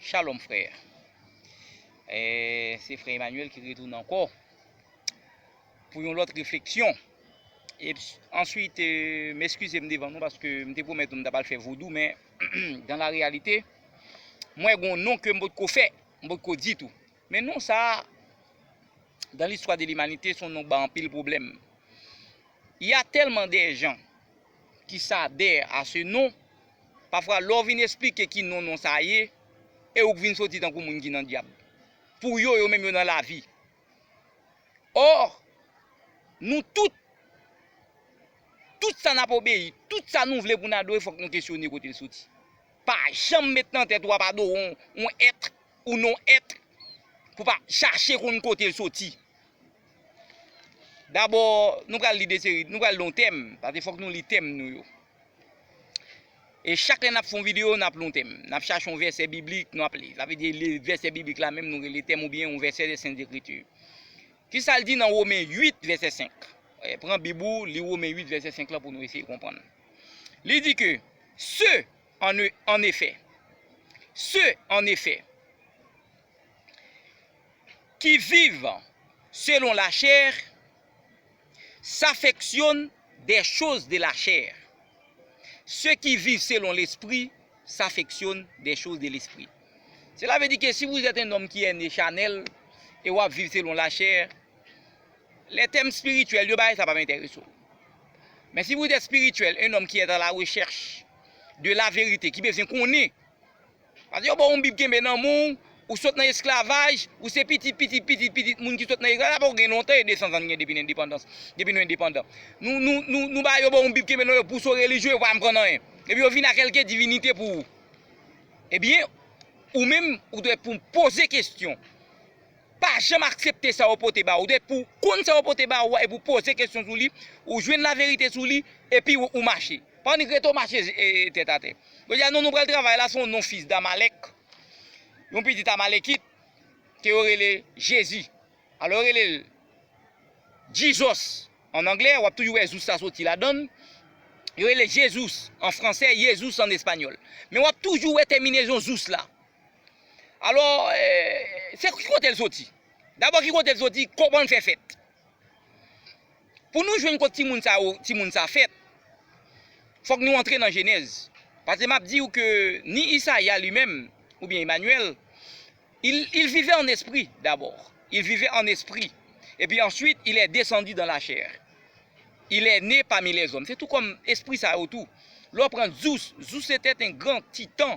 Shalom frère Se frère Emmanuel ki retounen ankò Pou yon lòt refleksyon Answit m eskize m devan nou paske m te pwomèt nou m tap al fè vodou men Dan la reyalite M wè gon non ke m potko fè M potko di tou Men non sa Dan listwa de limanite son non k ban anpil pwoblèm Ya tèlman de jan Kisa dèyè a se non? Pafwa lè w vin esplike ki non non sa ye, e ou k vin soti tankou moun ki nan dyab. Pou yo, yo menm yo nan lavi. Or, nou tout, tout sa n ap obeyi, tout sa nou vle pou n adore fòk nou kesyone kote l soti. Pa janm met nan tèt ou ap adore yon èt ou non èt pou pa chache konn kote l soti. Dabò, nou pral li de seri, nou pral lon tèm, pase fòk nou li tèm nou yo. E chak lè n ap fè yon videyo, n ap lon tèm. N ap chache yon vèsè biblik, nou ap li. Sa vle di li vèsè biblik la menm nou rele tèm oubyen yon vèsè de Sent Ekriti. Ki sa l di nan Women 8 vèsè 5? Pran bib ou, li Women 8 vèsè 5 la pou nou eseye konprann. Li di ke, Se, an efè, se, an efè. Ki viv selon lachè, safeksyonn dè choz de lachè, se ki viv selon lespri, safeksyonn dè choz de lespri. Sela ve di ke si vouzèt en nonm ki ène chanèl, e wap viv selon lachè, lè tèm spirityèl yo bay sa pap enterese w. Men si vouzèt spirityèl, en nonm ki ète a la rechèch de laverite, ki bezwen konnen Pase yo ba w yon bib kenbe nan men w, ou sot nan esklavaj, ou se pitit pitit pitit pitit moun ki sot nan esklavaj, sa pa gen lontan e 200 zan n gen depi n endepandans, depi nou endepandan. Nou nou nou nou ba yo ba w yon bib kenbe nan men w pou w se yon relijye yo pa anprann anyen. Epi yo vini ak kèlke divinite pou ou. Ebyen, ou menm ou dwe pou poze kesyon. Pa janm aksepte sa yo pote ba ou, depi ou konn sa yo pote ba ou a epi ou poze kesyon sou li, ou jwenn laverite sou li, epi ou mache. Pa annik rete ou mache tèt atè. Yo di a non nou pral travay la se yon non fis d'Amalèk, yon pitit Amalekit ke yo rele Jezi. Alò yo rele l Jesus an anglè, wap toujou wè zous la soti ladan l, yo rele l Jesus an fransè, Yesus an espanyòl. Men wap toujou wè tèminezon zous la. Alò, se ki kote l soti? Dabò ki kote l soti, kòman l fè fèt? Pou nou jwenn kot timoun sa yo, timoun sa fèt, fòk nou antre nan Jenèz. Pase m ap di ou ke ni Isaya li menm, oubyen Emanyèl, il vivait en esprit d'abord, il vivait en esprit, epi answit il est descendu dans la chair, il est né parmi les hommes. Se tou kòm espri sa yo tou. Lè w pran Zeus, Zeus se tèt en gran, titan,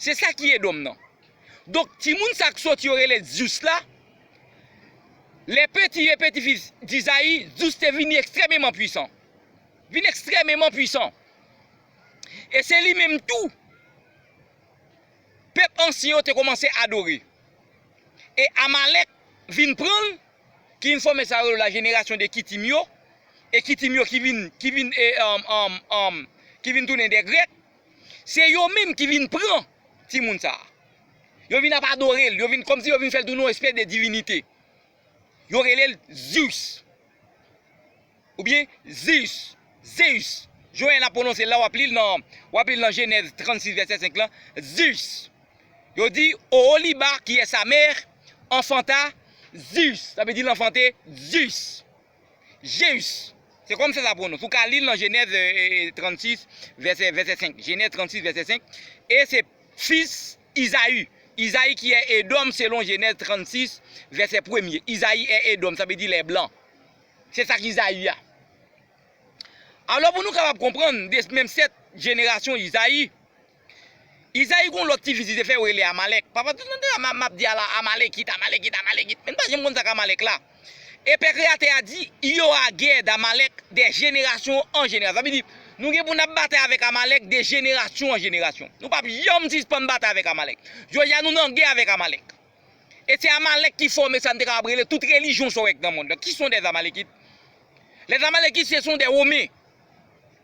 Se sa ki Edom nan. Donk, timoun sa k soti yo rele Zeus la, les petits et petits-fils d'Isaïe, Zeus te vini ekstrèmeman pwisan. Vin ekstrèmeman pwisan. E se li menm tou pèp ansyen yo te koumanse adore. E Amalèk vin pran l, ki vin fòme sa yo rele la jenerasyon de Kitim yo, e Kitim yo ki vin tounen de Grèk. Se yo menm ki vin pran timoun sa. Yo vin ap adore l, yo vin kòmsi yo vin fè l tounen yon espès de divinite. Yo rele l Zeus. Oubyen Zeus, Zeus. Joen ap pwononse l la, w ap li l nan, w ap li l nan Jenèz 36 vèsè 5 lan, Zeus. Yo di, Oholiba, qui est sa mère, enfanta Zeus. Sa vle di l anfante Zeus. Jeus. Se kòmsa sa pwonons. Ou ka li l nan Jenèz 36, vèsè 5. Jenèz 36, vèsè 5. E se fis Izayi. Izayi ki è Edòm selon Jenèz 36, vèsè premye. Izayi è Edòm, sa vle di lè blan. Se sa k Izayi a. Alò pou nou kapab konprann, de menm sèt jenerasyon Izayi, Izayi gon lòt ti fis li te fè yo rele Amalèk. Papa tout nan tan an map di ala Amalekit, Amalekit, Amalekit. Men nou pa janm konn sak Amalèk la. E Pè Kreyatè a di, il y aura guerre d'Amalek de jenerasyon an jenerasyon. Sa vle di, nou gen pou nap batay avèk Amalèk de jenerasyon an jenerasyon. Nou pap janm sispann batay avèk Amalèk. Jodi a nou nan gè avèk Amalèk. E se Amalèk ki fòme sa nou te kapab rele tout relijyon sa w wè k nan mond lan. Ki son dè Amalekit? Lè Amalekit se son dè Women.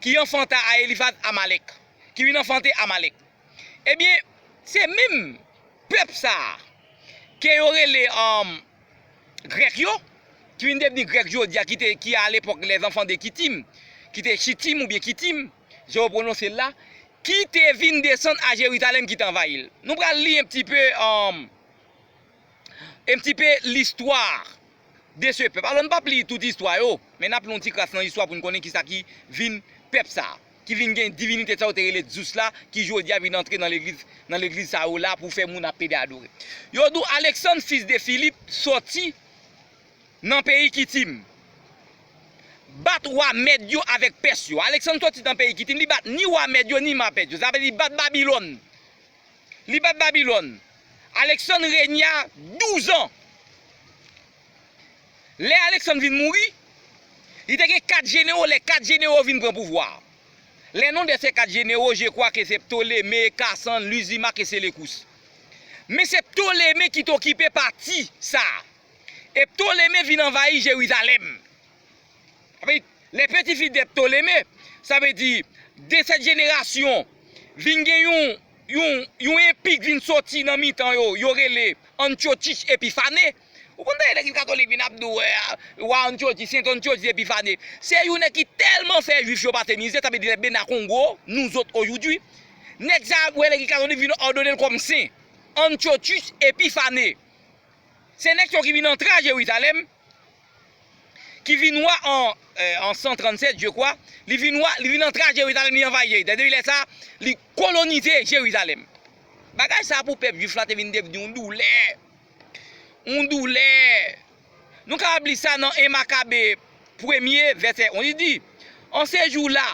ki anfanta a Elifaz Amalèk, ki vin anfante Amalèk. Ebyen, se menm pèp sa a ke yo rele Grèk yo, ki vin devni Grèk jodi a, ki alepòk lèzanfan de Kitim, ki te Chitim oubyen Kitim, jan yo pwononse l la, ki te vin desann a Jerizalèm ki te anvayi l. Nou pral li yon ti pe. Un petit peu l'histoire de ce peuple. Alò n pap li tout istwa yo, men n ap li yon ti kras nan istwa pou n konnen kisa ki vin pèp sa a. Ki vin gen divinite sa yo te rele Zeus la, ki jodi a vin antre nan legliz, nan legliz sa yo la pou fè moun ap pede adore. Yo di w Alexandre fils de Philippe sòti nan peyi Kitim. Bat wa Mèd yo avèk Pès yo. Alexandre sòti nan peyi Kitim, li bat ni wa Mèd yo ni ma Pès yo. Sa vle di li bat Babylone. Li bat Babilòn. Aleksann regna douz an. Lè Aleksann vin mouri, li te gen kat jenewo, lè kat jenewo vin pran pouvwa a. Le non de se kat jenewo, je kwa ke se Ptoleme, Kasan, Lizimak e Selekous. Men se Ptoleme ki te okipe pati sa a. E Ptoleme vin anvayi Jerizalèm. Sa vle di, lè peti fi de Ptolemee, sa vle di, de sèt jenerasyon, vin gen yon, yon, yon enpi k vin soti nan mitan yo, yo rele Antiochus Epiphanes. Ou konn tande nèg katolik vin ap di w, Wa Antiochus, Sent Antiochus Epiphanes. Se yon nèg ki tèlman fè Juif yo pa te mize, sa vle di lè Bena Kongo, nous autres aujourd'hui, nèg sa a wè legliz katolik vin òdone l kòm sen. Antiochus Epiphanes. Se nèg sa yo ki vin antre a Jérusalem. ki vin wa an 137 je kwa, li vin wa, li vin antre a Jerizalèm, li anvayi Jerizalèm. Depi lè sa a, li kolonize Jerizalèm. Bagay sa a pou pèp jwif la te vin devni yon doulè. Yon doulè. Nou kapab li sa nan 1 Makabe premye, vèsè 1. Li di, An se jou la,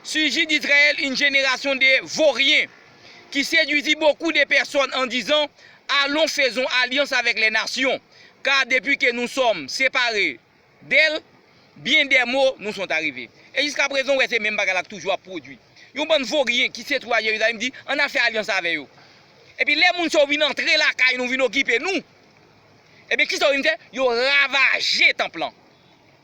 siji d'Izrayèl yn jenerasyon de voryen, ki sedwizi bokou de pèsòn an dizan, Alon, fezon alyans avèk lè nasyon. Car depi ke nou sòm separe de l, byen dè mo nou son ta rive. E jiska prezan ou wè se menm bagay la k toujou ap pwodui. Yon bann voryen ki se twou a Jerizalèm di an n a fè alyans avè yo. Epi lè moun sa yo vin antre lakay nou, vin okipe nou, ebyen kisa yo vin fè? Yo ravaje tanp lan.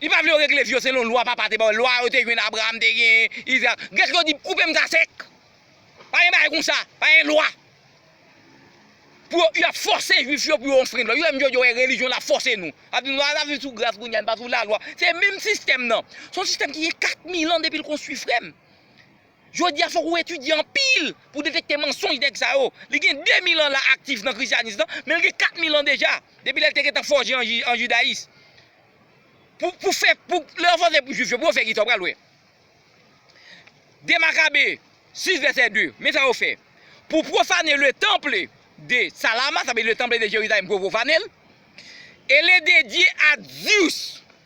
Li pa vle yo regle vi yo selon lwa papa te ba yo, lwa yo te jwenn Abraram te genyen, Izarak. Grèk yo di, Koupe m sa sèk. Pa gen bagay konsa. Pa gen lwa. Pou yo, y ap fòse Juif yo pou yo anfrend lwa. Yo menm jodi yo wè relijyon la fòse nou. Y ap di nou, a n ap viv sou gras kounye a, n pa sou lalwa. Se menm sistèm nan. Se yon sistèm ki gen 4000 an depi l konstwi frè m. Jodi a fòk ou etidye anpil pou w detekte mansonj nèg sa yo. Li gen 2000 an la aktif nan Krisyanis lan, men li gen 4000 an deja, depi lè l te gentan fòje an Jidayis. Pou pou fè pou lè yo fòse pou Jwif yo pou yo fè kisa w pral wè. 2 Makabe 6 vèsè 2, men sa yo fè. Pou pwofane le temple de Salama, sa vle di le temple de Jerizalèm pou yo pwofane l, e le dedye a Zeus.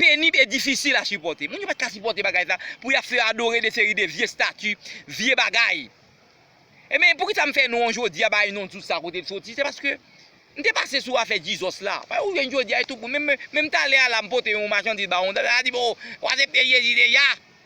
penib e difisil a sipòte. Moun yo pat ka sipòte bagay sa pou yap fè adore de seri de vye stati, vye bagay. Enben, poukisa m fè non jodi a, bay non tout sa kote l soti, se paske m te pase sou afè Jesus la. Paske ou jwenn jodi a e tout moun, menm talè a la m pote yon machandiz ba yon dam, la di m, oh, ou asepte Jezi deja?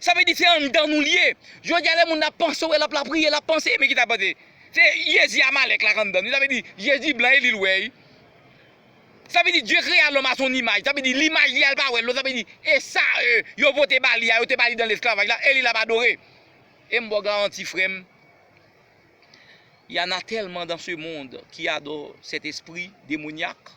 Sa vle di se anndan nou li ye. Jodi a lè moun ap panse wè l ap lapriye, l ap panse men ki sa panse. Se Jezi Amalèk la k anndan l wi. Sa vle di Jezi blan e li l wè wi. Sa vle di Dieu créa l'homme à son image. Sa vle di limaj li a l pa wè l non. Sa vle di e sa yo vote ba li a, yo te ba li dan lesklavaj la e li l ap adore. E m ba w garanti frè m, y'en a tèlman dans ce monde ki adore cet esprit démoniaque.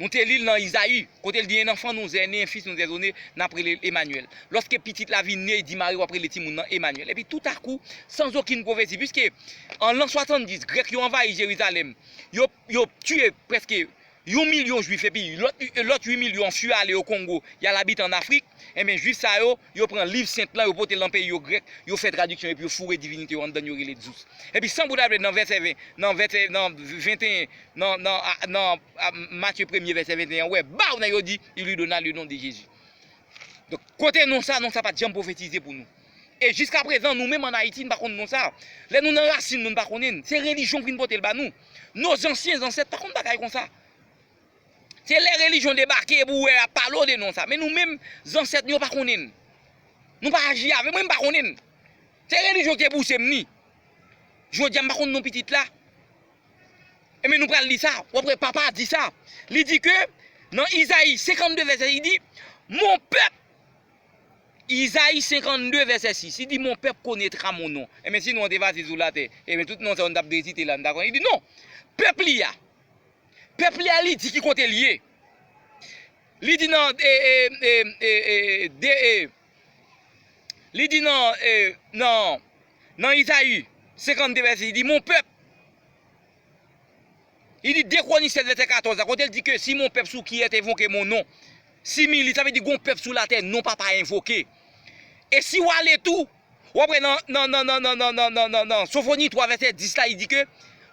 Nou te li l nan Izayi, kote l di, Enn anfan nou zè, ne enn fis nou zè zone, n ap rele l Emanyèl. Lòske pitit la vin ne, di mari w ap rele timoun nan Emanyèl. Epi toutakou, san zokin pwofesi, piske an lan swatanndis, Grèk yo anvayi Jerizalèm, yo, yo tiye prèske yon milyon Juif epi lòt, lòt ui milyon an fui ale o Kongo, y al abite ann Afrik, enben Juif sa yo, Yo pran Liv Sent lan, yo pote l nan peyi yo Grèk, yo fè tradiksyon epi yo foure divinite yo anndan l yo rele Zeus. Epi san bouda ble nan vèsè 20, nan vèsè nan 21, nan nan nan Matye premye vèsè 21 an, ou wè baw nèg yo di, il lui donna le nom de Jésus. Donk kote non sa, non sa pat janm pwofetize pou nou. E jiska prezan nou menm an Ayiti n pa konn non sa. Lè nou nan rasin nou n pa konnen l. Se relijyon k vin pote l ba nou. No zansyen zansèt pa konn bagay konsa. Se lè relijyon debake epi ou wè yap pale w de non sa. Men nou menm, zansèt nou yo pa konnen n. Nou pa aji avè, mwen m pa konnen n. Se relijyon ki te pouse m ni. Jodi a m pa konn non pitit la. Enben nou pral li sa. Ou ap wè papa a di sa. Li di ke nan Izayi 52 vèsè li di, Mon pèp Izayi 52 vèsè 6, li di mon pèp konetra mon non. Enben si non an te fasil sou latè, enben tout non sa yo nou tap resite la nou ta konnen. Li di non, pèp li a. Pèp li a li di ki kote li ye. Li di nan li di nan nan Izayi 52 vèsè li di mon pèp li di de kwonisè vèsè 14 la kote li di ke si mon pèp sou ki è te vonke mon non si mi li sa vle di gon pèp sou latè non papa envoke e si w ale tou Ou ap wè nan Sofoni 3 vèsè 10 la li di ke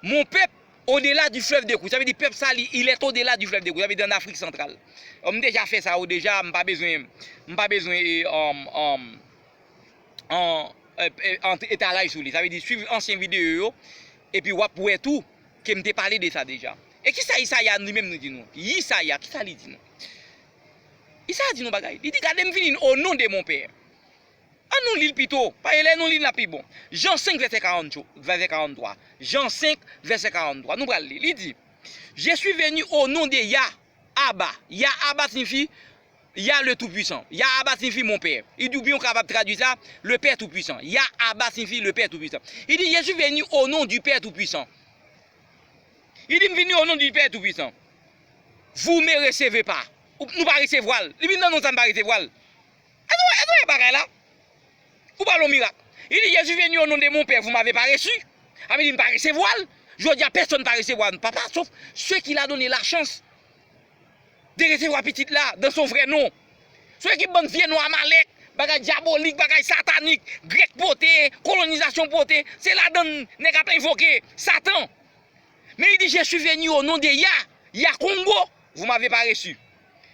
mon pèp odela di flèv de kou. Sa vle di pèp sa li il est odela di flèv de kou. Sa vle di an Afrik santral. M deja fè sa yo deja m pa bezwen m pa bezwen etalay sou li. Sa vle di swiv ansyen videyo yo epi w ap wè tou ke m te pale de sa deja. E kisa Isaya li menm li di nou? Isaya kisa li di nou? Isaya di nou bagay. Li di gade m vini o non de mon pè. An nou li l pito, paske lè nou li l l ap pi bon. Jan 5 vèsè 43, Jan 5 vèsè 43, nou pral li, li di, Je suis venu au nom de Ya, Aba. Ya, Aba siyifi, Ya le Toupuisan. Ya, Aba siyifi Mon Pè. Li di oubyen ou kapab tradui sa, Le Pè Toupuisan. Ya, Aba siyifi Le Pè Toupuisan. Li di, Je suis venu au nom du Pè Toupuisan. Li di, M vini o non di Pè Toupuisan. Vou me reseve pa. Nou pa resevwa l. Li vin nan non sa nou pa resevwa l. Èske nou wè bagay la? Ou pale yon mirak. Li di Jezi vini o non de mon Pè vou mave pa resi. A ve di m pa resevwa l. Jodi a pèsòn pa resevwa Papa sof se ki la done la chans de resevwa Pitit la dan son vrè non. Sou ekip bann vye non Amalèk, bagay dyabolik, bagay satanik, Grèk pote, kolonizasyon pote, se ladann nèg ap envoke Satan. Men li di Jesi veni o non de Yah, Yah Kongo, vou mave pa resi.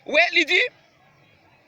Ou wè, li di.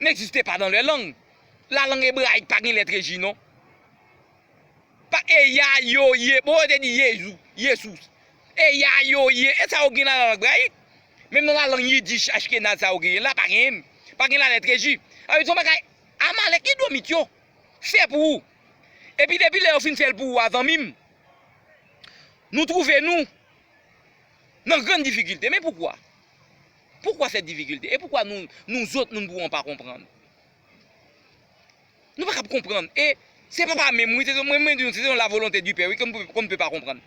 N'existe pas dans leurs langues. La langue ebrayik pa gen letre J non. Pa e ya, yo, ye. Bon yo te di Yezou, Yesous. E ya, yo, ye. E sa yo gen nan la lang ebrayik. Menm nan la lang yidich, ashkenaz sa yo genyen la, pa genyen. Pa gen la letre J. Sa vle di son bagay Amalèk, Edomit yo fè pou ou. Epi depi lè yo fin fè l pou ou a zanmi m, nou twouve nou nan grann difikilte. Men poukwa? Poukwa sèt difikilte? E poukwa nou, nou zot moun bouwon pa konprann? Nou pa kab konprann. E, se pa pa menm wi, se se mwen mwen di nou, se se yon la volonte di pè wi, kon kon pe pa konprann.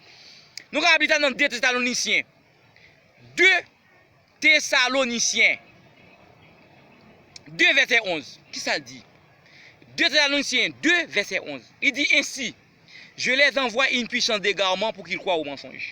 Nou ka ap li sa nan de Tesalonisyen. De Tesalonisyen. De vèsè onz. Ki sa l di? De Tesalonisyen, de vèsè onz. Li di ensi, Je lè zanvwa yn pwisans degarman pou ki l kwa o mansonj.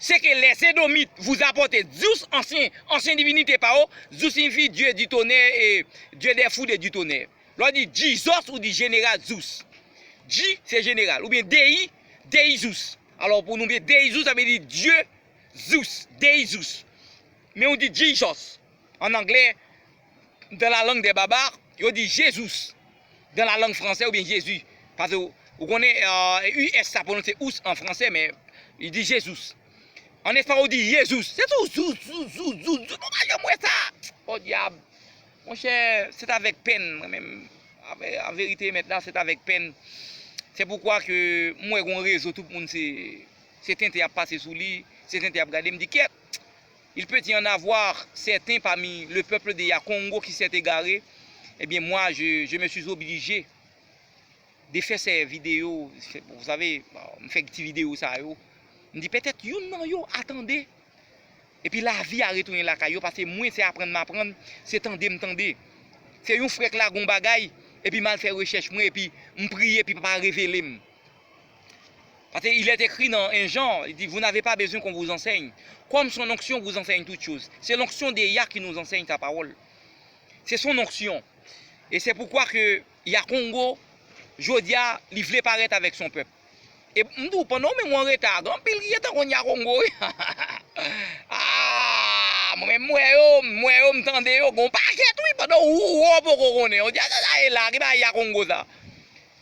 Se ke les Edomites vous apportent Zeus, ansyen, ansyen divinite pa yo, Zeus signifi Dieu du tonnerre e Dieu des foudres et du tonnerre. Lè w di Jesus ou di Jeneral Zeus. Je se jeneral. Oubyen Dei, Dei Zeus. Alò pou nou byen Dei Zeus sa vle di Dieu Zeus, Dei Zeus. Men ou di Jesus. An anglè, dans la langue des barbares, yo di Jesus. Dans la langue française oubyen Jezi. Pase ou konnen US sa pwononse ous an franse men li di Jesus. An espayòl ou di Yezus. Se tou zou zou zou zou zou nou pa janm wè sa. Podyab. Monchè, c'est avec peine mwen menm an verite emet la c'est avec peine. Se poukwa ke m wè gon rezo tout moun se tenten y ap pase sou li, se tenten y ap gade m di kyèt. Il peut y en avoir certains parmi le peuple de Yakongo qui s'est égaré, eh bien moi je je me suis obligé de fè sè video, vous savez, m fè ti video sa yo, m di pètèt youn nan yo a tande, epi lavi a retounen lakay yo, pase mwen se aprann m aprann, se tande m tande. Se yon frè k lage yon bagay, epi m al fè rechèch mwen, epi m priye epi papa revele m. Paske il est écrit nan 1 Jan, li di, vous n'avez pas besoin qu'on vous enseigne. Kòm son onction vous enseigne toutes choses. Se l'onction de Yah ki nous enseigne sa pawòl. Se son onction. E se poukwa ke Yah Kongo, jodi a, li vle parèt avèk son pèp. E m di w, pandan ou menm ou an reta, gen anpil ki gentan konn Yah Kongo wi. Aah! Mwen menm m wè yo, m wè yo, m tande yo, gen yon pakèt wi, pandan ou ou an poko konnen. Ou di a sa sa ye la, ki bagay Yah Kongo sa?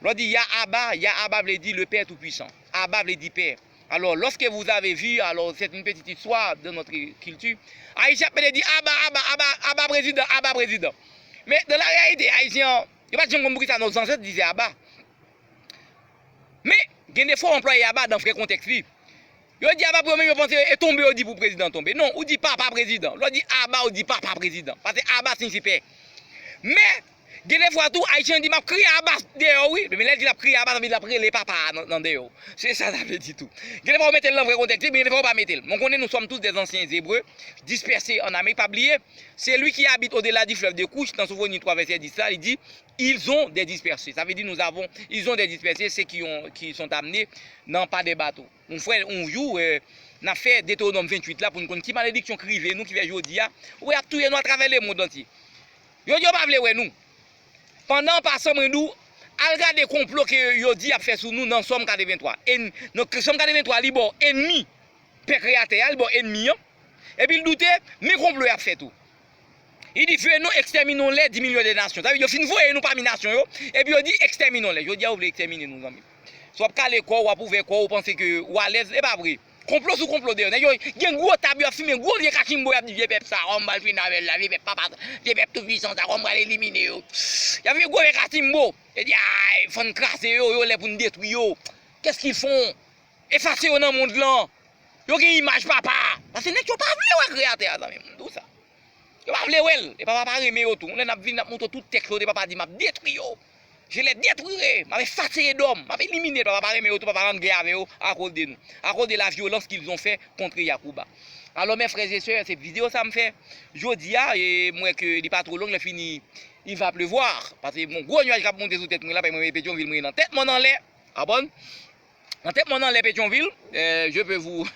Lò di Ya Aba, Ya Aba vle di Le Père Tout Puissant. Aba vle di Pè. Alò, loske vous avez vu, alò, c'est une petite histoire dans notre culture. Ayisyen ap mete di Aba, Aba, Aba, Aba Prezidan, Aba Prezidan. Men, dans la réalité, Ayisyen an, yo pa t janm konn poukisa nos ancêtres disaient Aba. Men, gen de fwa w anplwaye Aba dans vrè kontèks li. Yo di aba premye repons yo e tonbe yo di pou prezidan tonbe. Non, ou di papa prezidan. Lè w di aba ou di papa prezidan. Pase aba siyifi pè. Men, gen de fwa tou Ayisyen di m ap kriye aba deyò wi. Men lè l di l ap kriye aba sa vle di l ap rele papa a nan deyò. Se sa sa vle di tou. Gen de fwa ou mete l nan vrè kontèks li men gen de fwa ou pa mete l. Mwen konnen nou sòm tous des ansyen zebre, dispèse an Amerik. Pa bliye, Celui qui habite au-delà du fleuve de Kouch nan Sofoni 3 vèsè 10 la li di, Ils ont des dispersés. Sa vle di nous avons, ils ont des dispersés, se ki yon, ki sont amenés nan pa de bato. Yon frè yon jou n ap fè Detewonòm 28 la pou n konn ki malediksyon k rive nou ki fè jodi a ou wè y ap touye nou atravè lemond antye. Yo di yo pa vle wè nou. Pandan an pasan mwen di w al gade konplo ke yo di y ap fè sou nou nan Sòm 83. Sòm 83 li ba w enmi Pè Kreyatè a, li ba w enmi an. Epi l doute men konplo y ap fè tou. Li di fè nou exterminons les di milyon de nasyon. Sa vle di yo fin voye nou pami nasyon yo, epi yo di exterminons les. Jodi a ou vle extermine nou zanmi. Si wap kale kò ou, wap ouvè kò ou, ou panse ke ou alèz, e pa vre. Konplo sou konplo deyò. Nèg yo gen gwo tab yo ap fimen gwo vye kachimbo yap di vye pèp sa a kòman m pral fini avè l la, vye pèp papa sa, vye pèp tou pwisan sa a kòman m pral elimine yo. Yap fè gwo vye kachimbo. Yo di aay fòn n kraze yo, yo lè pou n detwi yo. Qu'est-ce qu'ils font? Efase yo nan mond lan. Yo gen imaj papa a. Pase nèg yo pa vle wè kreyatè a zanmim. M di w sa. Yo pa vle wè l. E papa a pa renmen yo tou. Yon lè n ap vini n ap montre w tout tèks kote papa a di m ap detwi yo. Je les detruirai. M ap efase Edom. M ap elimine l. Papa a pa renmen yo tou. Papa a an gè avè yo akoz de nou. Akoz de la vyolans qu'ils ont fait contre Yacouba. Alò mes frères et sœurs se video sa m fè jodi a e m wè ke li pa two long lè fini il va pleuvoir. Pase gon gwo nwaj k ap monte sou tèt mwen la paske mwen e Petyonvil mwen e nan tèt mòn anlè. Abon. Nan tèt mòn anlè Petyonvil, je peux vous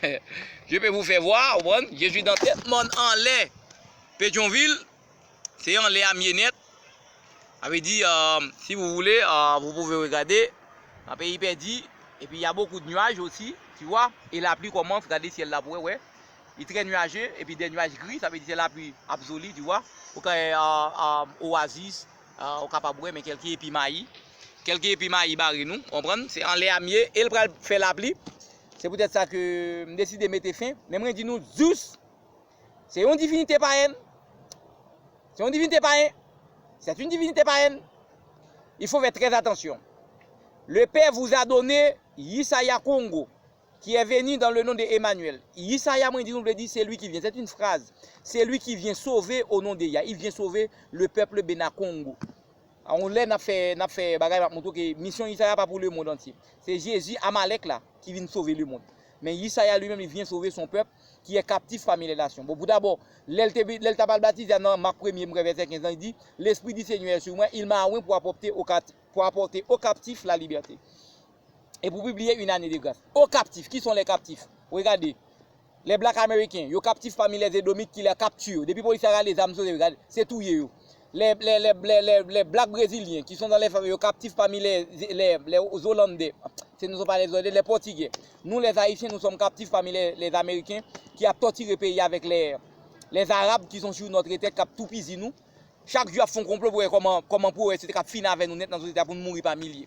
je peux vous faire voir, ou konprann, je suis dans tèt mòn anlè Petyonvil, se anlè a m ye nèt, sa vle di si vous voulez vous pouvez regarder, nan peyi pèdi, epi ya bokou de nuaj osi, tu vois, e lapli kòmanse, gade syèl la pou wè, wè, li trè nuaje, epi dè nuaj gri, sa vle di se lapli absoli, tu vois, ou ka wè oasis. Ou kapab wè men kèlke epi mayi. Kèlke epi mayi bare nou, ou konprann? Se anlè a m ye e l pral fè lapli. Se poutèt sa ke m deside mete fen. Men mwen di nou, Zeus se yon divinite payèn. Se yon divinite payen. C'est une divinité païenne. Il faut faire très attention. Le père vous a donné Yisaya Kongo. Qui est venu dans le nom de Emmanuel? Yisaya mwen di nou vle di celui qui vient. C'est une phrase. Celui qui vient sauver au nom de Yah. Il vient sauver le peuple Bena Kongo. A yon lè n ap fè n ap fè bagay m ap montre w ke misyon Yisaya pa pou lemond antye. Se Jezi, Amalèk la, ki vin sove lemond. Men Yisaya li menm li vyen sove son pèp ki è kaptif pami lè nasyon. Bon pou dabò, lè l te lè l t ap al batize a nan Mak premye m kwè vèsè 15 lan li di, Lespri di Senyè è sur mwen, il m'a oint pour apporter aux captifs la liberté. e pou pibliye Une année de grâce. O kaptif, ki son lè kaptif? Regade, Les Blacks Américains, yo kaptif pami lè Edomit ki lè kapti yo. Depi polis la rale zam sou yo, gade, se touye yo. Les Blacks Brésiliens, ki son dan lè fèm, yo kaptif pami lè Olandè, se nou son pa lè Olandè, lè Pòtigè. Nou lè Ayisyen, nou som kaptif pami lè Ameriken ki ap tòtire peyi avèk lè Arab ki son sou notre tèt, kap toupizi nou. Chak jou yap fon konplo pou wè kòman pou wè se te kap fini avè nou nèt nan sosyete a pou nou mouri pa milye.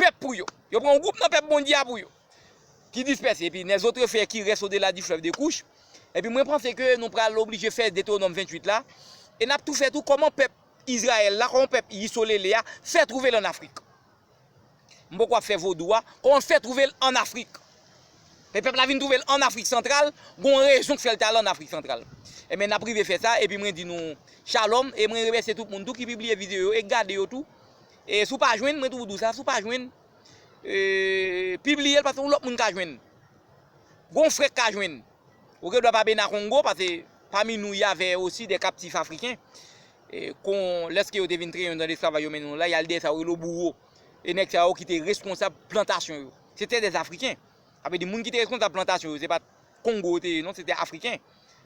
Pèp pou yo. Yo pran yon gwoup nan pèp Bondye a pou yo. Ki dispèse. Epi, nè zotre fè ki rès odela di flèv de Kouch. Epi mwen panse ke nou pral oblije fè Detewonom 28 la. E n ap tou fè tou kòman pèp Izrayèl la, kòman pèp Yisolele a fè twouve l ann Afrik. M poko ap fè vodou a. Kòman l fè twouve l ann Afrik. E pèp la vin twouve l ann Afrik Santral, gen yon rezon k fè l te al ann Afrik Santral. Enben, n ap rive fè sa. Epi mwen di nou Shalom. E mwen remèsye tout moun tou ki pibliye videyo yo e k gade yo tou. E si w pa jwenn, mwen toujou di w sa, si w pa jwenn, pibliye l paske yon lòt moun ka jwenn. Gon frè k ka jwenn. Ou gen dwa pa bena kongo paske pami nou y avè osi dè kaptif afriken. Kon lèske yo te vin trennen yo nan lesklavaj yo mennen yo la, y al dèyè sa yo rele yo bouwo. E nèg sa yo ki te reskonsab plantasyon yo. Se te dè afriken. Sa vle di moun ki te reskonsab plantasyon yo se pa t. Kongo yo te ye non, se te Afriken.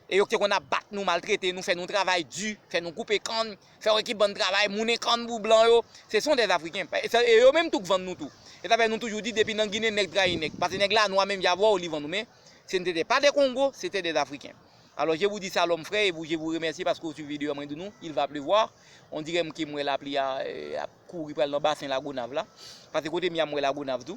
E yo ki te konn ap bat nou, maltrete nou, fè nou travay di, fè nou koupe kann, fè yon ekip bann travay, mounen kann pou blan yo, se son dè Afriken. E yo menm tou k vann nou tou. E sa fè nou toujou di depi nan Ginen nèg trayi nèg. Pase nèg la nwa menm jan avè w li vann ou men se n te te pa dè Kongo, se te dè Afriken. Alò je vou di salom frè e vou je vou remèsye paske ou swiv videyo a mwen di nou il va pleuvoir on dirè m ke m wè lapli a ap kouri pral nan basen Lagonav la. Pase kote m ye a m wè Lagonav tou.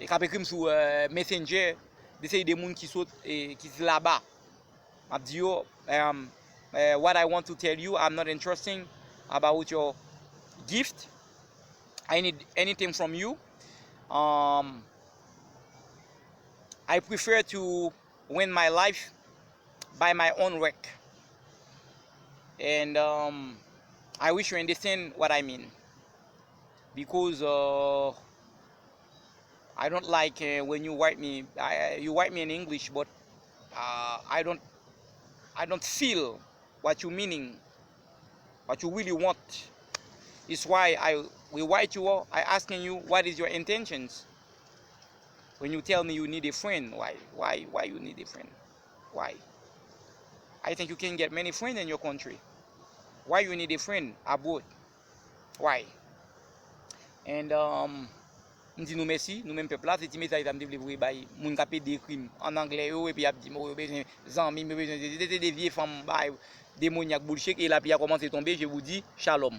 e kap ekrim sou messenger de seri de moun ki sot ki di laba map di yo what I want to tell you I'm not interesting about your gift I need anything from you um I prefer to win my life by my own work and um I wish you understand what I mean Because ohh I don't like when you write me you write me in English but ahh I don't I don't feel what you meaning what you really want it's why I we write you all I asking you what is your intentions when you tell me you need a friend why why why you need a friend why I think you can get many friend in your country why you need a friend abroad. Why? And um, m di nou mèsi, nou menm pèp la, se ti mesaj sa m te vle voye bay moun k ap ede ekri m an anglè yo epi y ap di m o yo bezwen zanmi m, yo bezwen sesi, se te de vye fanm bagay demonyak boulshit e lapli a kòmanse tonbe, je vous dis Shalom.